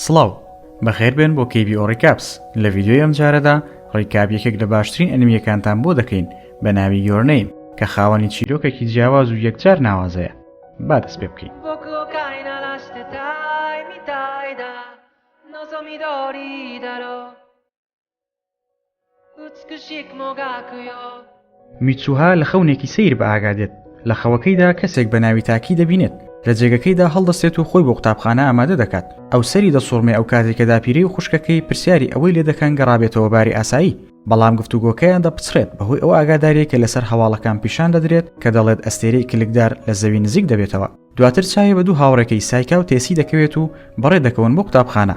سڵاو بەخێر بێن بۆ کەیبی ئۆڕیکاپس لە ڤیددیۆی ئەم جارەدا ڕیکاب یەکێک لە باشترین ئەنمیەکانتان بۆ دەکەین بە ناوی یۆرنەیم کە خاوەنی چیرۆکێکی جیاواز و یەکجار ناوازەیە با دەست پێ بکەین میتسوها لە خەونێکی سەیر بە ئاگا دێت لە خەوەکەیدا کەسێک بە ناوی تاکی دەبینێت لە جێگەکەیدا هەڵدەستێت و خۆی بۆ قوتابخانە ئامادە دەکات ئەو سەری دەسوڕمێ ئەو کاتێک کە داپیرەی و خوشکەکەی پرسیاری ئەوەی لێ دەکەن گەڕابێتەوە باری ئاسایی بەڵام گفتوگۆکەیان دەپچڕێت بەهۆی ئەو ئاگاداریە کە لەسەر هەواڵەکان پیشان دەدرێت کە دەڵێت ئەستێرەی کلکدار لە زەوی نزیک دەبێتەوە دواتر چاوی بە دوو هاوڕێکەی سایکا و تێسی دەکەوێت و بەڕێ دەکەون بۆ قوتابخانە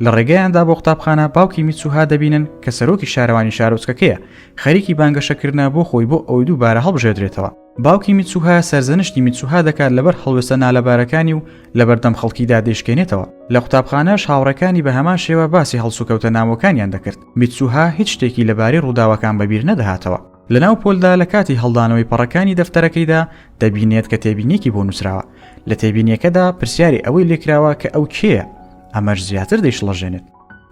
لە ڕێگەیاندا بۆ قوتابخانە باوکی میچوها دەبینن کە سەرۆکی شارەوانی شارۆچکەکەیە خەریکی بانگەشەکردە بۆ خۆی بۆ ئەوەی دوو بارە هەڵبژێدرێتەوە باوکی میچوها سەرزەنشتی میچوها دەکات لەبەر هەڵوێستە نالەبارەکانی و لەبەردەم خەڵکیدا دەیشکێنێتەوە لە قوتابخانەش هاوڕەکانی بە هەمان شێوە باسی هەڵسوکەوتە ناوەکانیان دەکرد میچوها هیچ شتێکی لەبارەی ڕووداوەکان بەبیر نەدەهاتەوە لەناو پۆلدا لە کاتی هەڵدانەوەی پەڕەکانی دەفتەرەکەیدا دەبینێت کە تێبینێکی بۆ نووسراوە لە تێبینیەکەدا پرسیاری ئەوەی لێکراوە کە ئەو کێیە ئەمەش زیاتر دەیشڵەژێنێت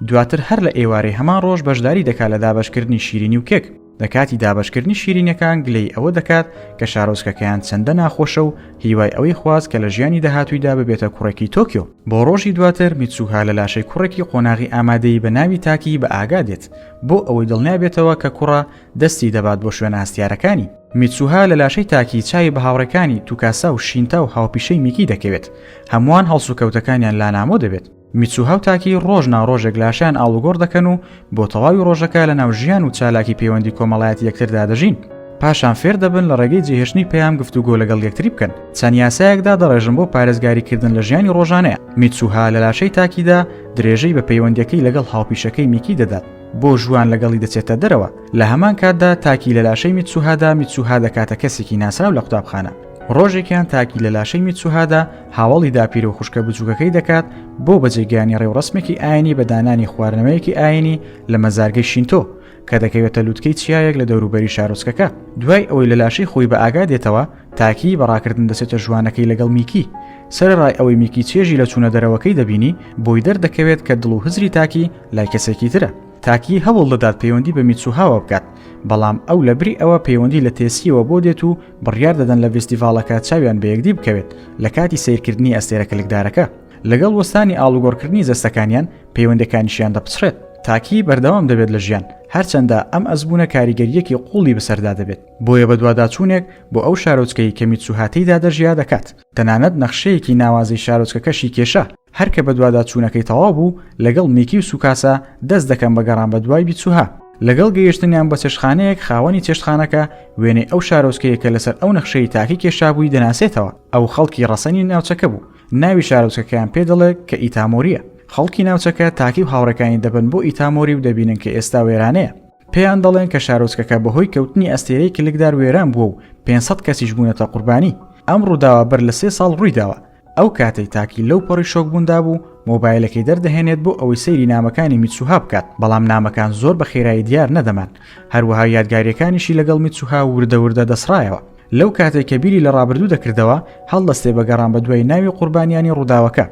دواتر هەر لە ئێوارەی هەمان ڕۆژ بەشداری دەکات لە دابشکردنی شیرینی و کێک لە کاتی دابشکردنی شیرینەکان گلەی ئەوە دەکات کە شارۆزکەکەیان چەندە ناخۆشە و هیوای ئەوەی خواست کە لە ژیانی داهاتوویدا ببێتە کوڕێکی تۆکیۆ بۆ ڕۆژی دواتر میچوها لە لاشەی کوڕێکی قۆناغی ئامادەی بە ناوی تاکی بە ئاگا دێت بۆ ئەوەی دڵنیابێتەوە کە کوڕە، دەستی دەبات بۆ شوێنە هەستیارەکانی. میتسوها لە لاشەی تاکی چاوی بە هاوڕێکانی، توکاسا و شینتا و هاوپیشەی میکی دەکەوێت. هەمووان هەڵسوکەوتەکانیان لانامۆ دەبێت. میتسوها و تاکی ڕۆژ نا ڕۆژێک لاشەیان ئاڵوگۆڕ دەکەن و بۆ تەواوی ڕۆژەکە لەناو ژیان و چالاکی پەیوەندی کۆمەڵایەتی یەکتردا دەژین. پاشان فێر دەبن لە ڕێگەی جێهێشتنی پەیام گفتوگۆ لەگەڵ یەکتری بکەن. چەند یاسایەک دادەڕێژن بۆ پارێزگاریکردن لە ژیانی ڕۆژانەیان. میتسوها لە لاشەی تاکیدا، درێژەی بە پەیوەندیەکەی لەگەڵ هاوپیشەکەی میکی دەدات بۆ ژوان لەگەڵی دەچێتە دەرەوە لە هەمان کاتدا تاکی لە لاشەی میتسوهادا میتسوها دەکاتە کەسێکی ناسراو لە قوتابخانە ڕۆژێکیان تاکی لە لاشەی میتسوهادا هاوڵی داپیرە و خوشکە بچووکەکەی دەکات بۆ بەجێگەیانی ڕێوڕسمێکی ئاینی بە دانانی خواردنەوەیەکی ئاینی لە مەزارگەی شینتۆ کە دەکەوێتە لووتکەی چیایەک لە دەوروبەری شارۆچکەکە دوای ئەوەی لە لاشەی خۆی بە ئاگا دێتەوە تاکی بەڕاکردن دەچێتە ژوانەکەی لەگەڵ میکی سەرڕای ئەوەی میکی چێژی لە چوونە دەرەوەکەی دەبینی بۆی دەردەکەوێت کە دڵ و هزری تاکی لای کەسێکی ترە تاکی هەوڵ دەدات پەیوەندی بە میتسوهاوە بکات بەڵام ئەو لە بری ئەوە پەیوەندی لە تێسیەوە بۆ دێت و بڕیار دەدەن لە ڤستیڤالەکە چاویان بە یەکدی بکەوێت لە کاتی سیرکردنی ئەستێرە کلکدارەکە لەگەڵ وەستانی ئاڵوگۆڕکردنی جەستەکانیان پەیوەندەکانیشیان دەپچڕێت. تاکی بەردەوام دەبێت لە ژیان، هەرچەندە ئەم ئەزموونە کاریگەرییەکی قووڵی بەسەردا دەبێت، بۆیە بەدواداچوونێک بۆ ئەو شارۆچکەی کە میتسوها تێیدا دەژیا دەکات، تەنانەت نەخشەیەکی ناوازەی شارۆچکەکەشی کێشا، هەر کە بەدواداچوونەکەی تەواو بوو، لەگەڵ میکی و سوکاسا دەست دەکەم بە گەڕان بەدوای میتسوها، لەگەڵ گەیشتنیان بە چێشتخانەیەک خاوەنی چێشتخانەکە وێنەی ئەو شارۆچکەیە کە لەسەر ئەو نەخشەی تاکی کێشابووی دەناسێتەوە، ئەو خەڵکی ڕەسەنی ناوچەکە بوو، ناوی شارۆچکەکەیان پێ دەڵێ کە ئیتامۆرییە. خەڵکی ناوچەکە تاکی و هاوڕێکانی دەبەن بۆ ئیتامۆری و دەبینن کە ئێستا وێرانەیە. پێیان دەڵێن کە شارۆچکەکە بەهۆی کەوتنی ئەستێرەی کلکدار وێران بووە و پێنج سەد کەسیش بوونەتە قوربانی. ئەم ڕووداوە بەر لە سێ ساڵ ڕووی داوە. ئەو کاتەی تاکی لەو پەڕی شۆکبووندا بوو، مۆبایلەکەی دەردەهێنێت بۆ ئەوەی سەیری نامەکانی میتسوها بکات، بەڵام نامەکان زۆر بە خێرایی دیار نەدەمان. هەروەها یادگارییەکانیشی لەگەڵ میتسوها وردە وردە دەسڕایەوە. لەو کاتەی کە بیری لە ڕابردوو دەکردەوە هەڵدەستێ بە گەڕان بە دوای ناوی قوربانیانی ڕووداوەکە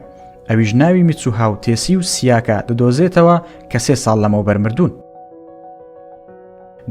ئەویش ناوی میتسوها و تێسی و سیاکە دەدۆزێتەوە کە سێ ساڵ لەمەو بەرمردون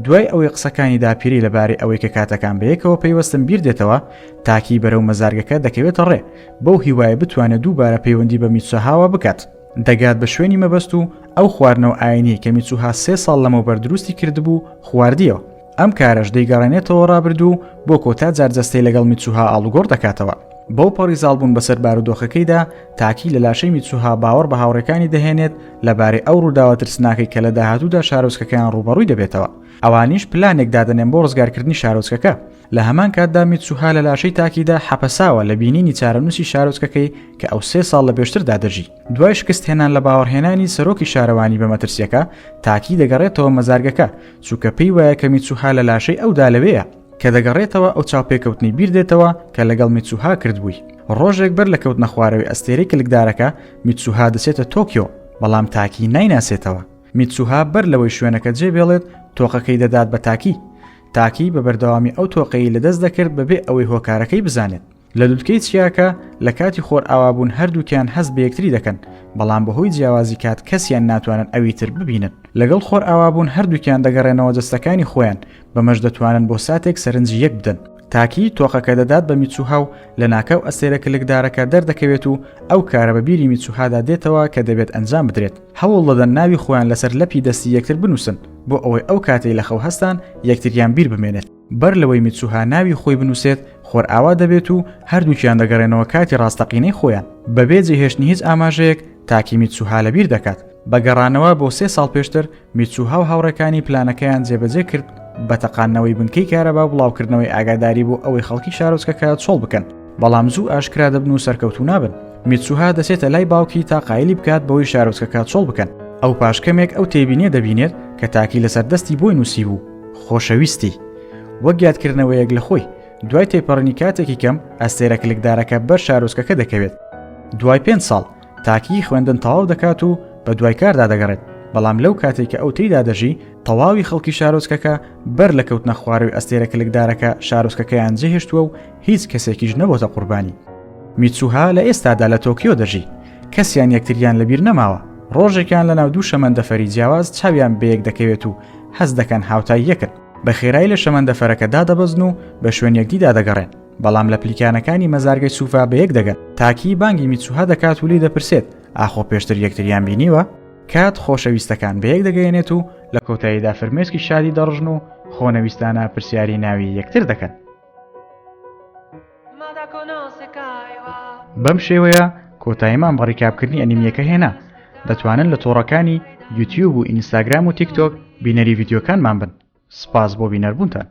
دوای ئەوەی قسەکانی داپیری لەبارەی ئەوەی کە کاتەکان بەیەکەوە پەیوەستم بیر دێتەوە تاکی بەرەو مەزارگەکە دەکەوێتە ڕێ بەو هیوایە بتوانێت دووبارە پەیوەندی بە میتسوهاوە بکات دەگات بە شوێنی مەبەست و ئەو خواردنەوە ئاینی کە میچوها سێ ساڵ لەمەوبەر دروستی کردبوو خواردیەوە ئەم کارەش دەیگەڕێنێتەوە ڕابردوو و بۆ کۆتا جار جەستەی لەگەڵ میتسوها ئاڵوگۆڕ دەکاتەوە. بەو پەڕی زاڵبوون بەسەر بارودۆخەکەیدا، تاکی لە لاشەی میتسوها باوەڕ بە هاوڕێکانی دەهێنێت لەبارەی ئەو ڕووداوە ترسناکەی کە لە داهاتوودا شارۆچکەکەیان ڕووبەڕووی دەبێتەوە. ئەوانیش پلانێک دادەنێن بۆ ڕزگارکردنی شارۆچکەکە. لە هەمان کاتدا میتسوها لە لاشەی تاکیدا حەپەساوە لە بینینی چارەنووسی شارۆچکەکەی کە ئەو سێ ساڵ لە پێشتردا دەژی. دوای شکستهێنان لە باوەڕهێنانی سەرۆکی شارەوانی بە مەترسییەکە، تاکی دەگەڕێتەوە مەزارگەکە، چونکە پێی وایە کە میتسوها لە لاشەی ئەودا لەوێیە. کە دەگەڕێتەوە ئەو چاوپێکەوتنەی بیر دێتەوە کە لەگەڵ میتسوها کردبووی. ڕۆژێک بەر لە کەوتنە خوارەوەی ئەستێرەی کلکدارەکە، میتسوها دەچێتە تۆکیۆ، بەڵام تاکی نایناسێتەوە. میتسوها بەر لەوەی شوێنەکە جێبێڵێت، تۆقەکەی دەدات بە تاکی. تاکی بە بەردەوامی ئەو تۆقەی لەدەست دەکرد بەبێ ئەوەی هۆکارەکەی بزانێت. لە لوتکەی چیاکە لە کاتی خۆرئاوابوون هەردووکیان هەست بە یەکتری دەکەن، بەڵام بەهۆی جیاوازی کات کەسیان ناتوانن ئەوی تر ببینن. لەگەڵ خۆرئاوابوون هەردووکیان دەگەڕێنەوە جەستەکانی خۆیان، بەمەش دەتوانن بۆ ساتێک سەرنجی یەک بدەن. تاکی، تۆقەکە دەدات بە میتسوها و لەناکاو ئەستێرە کلکدارەکە دەردەکەوێت و ئەو کارە بە بیری میتسوهادا دێتەوە کە دەبێت ئەنجام بدرێت. هەوڵ دەدەن ناوی خۆیان لەسەر لەپی دەستی یەکتر بنووسن بۆ ئەوەی ئەو کاتەی لە خەو هەستان یەکتریان بیر بمێنێت. بەر لەوەی میتسوها ناوی خۆی بنووسێت، خۆرئاوا دەبێت و هەردووکیان دەگەڕێنەوە کاتی ڕاستەقینەی خۆیان. بەبێ جێهێشتنی هیچ ئاماژەیەک، تاکی میتسوها لەبیر دەکات. بە گەڕانەوە بۆ سێ ساڵ پێشتر، میتسوها و هاوڕێکانی پلانەکەیان جێبەجێ کرد بە تەقاندنەوەی بنکەی کارەبا و بڵاوکردنەوەی ئاگاداری بۆ ئەوەی خەڵکی شارۆچکەکە چۆڵ بکەن، بەڵام زوو ئاشکرا دەبن و سەرکەوتوو نابن. میتسوها دەچێتە لای باوکی تا قایلی بکات بەوەی شارۆچکەکە چۆڵ بکەن. ئەو پاش کەمێک ئەو تێبینییە دەبینێت کە تاکی لەسەر دەستی بۆی نووسیبوو. خۆشەویستی وەک یادکردنەوەیەک لە خۆی دوای تێپەڕنی کاتێکی کەم ئەستێرە کلکدارەکە بەر شارۆچکەکە دەکەوێت دوای پێنج ساڵ تاکیی خوێندن تەواو دەکات و بە دوای کاردا دەگەڕێت بەڵام لەو کاتێک کە ئەو تێیدا دەژی تەواوی خەڵکی شارۆچکەکە بەر لە کەوتنە خوارەوەی ئەستێرە کلکدارەکە شارۆچکەکەیان جێهێشتووە و هیچ کەسێکیش نەبۆتە قوربانی میچوها لە ئێستادا لە تۆکیۆ دەژی کەسیان یەکتریان لەبیر نەماوە ڕۆژێکیان لە ناو دوو شەمەندەفەری جیاواز چاویان بەیەک دەکەوێت و هەست دەکەن هاوتای یەکن، بە خێرایی لە شەمەندەفەرەکە دادەبەزن و بە شوێن یەکدیدا دەگەڕێن، بەڵام لە پلیکانەکانی مەزارگەی سوفا بەیەک دەگەن. تاکی بانگی میتسوها دەکات و لێی دەپرسێت، ئاخۆ پێشتر یەکتریان بینیوە؟ کات خۆشەویستەکان بەیەک دەگەیەنێت و لە کۆتاییدا فرمێسکی شادی دەڕژن و خۆنەویستانە پرسیاری ناوی یەکتر دەکەن. بەم شێوەیە کۆتایمان بە ڕیکابکردنی ئەنیمیەکە هێنا دەتوانن لە تۆڕەکانی یوتیوب و ئینستاگرام و تیکتۆک بینەری ڤیددیوکانمان بن سپاس بۆ بینەربوونتان.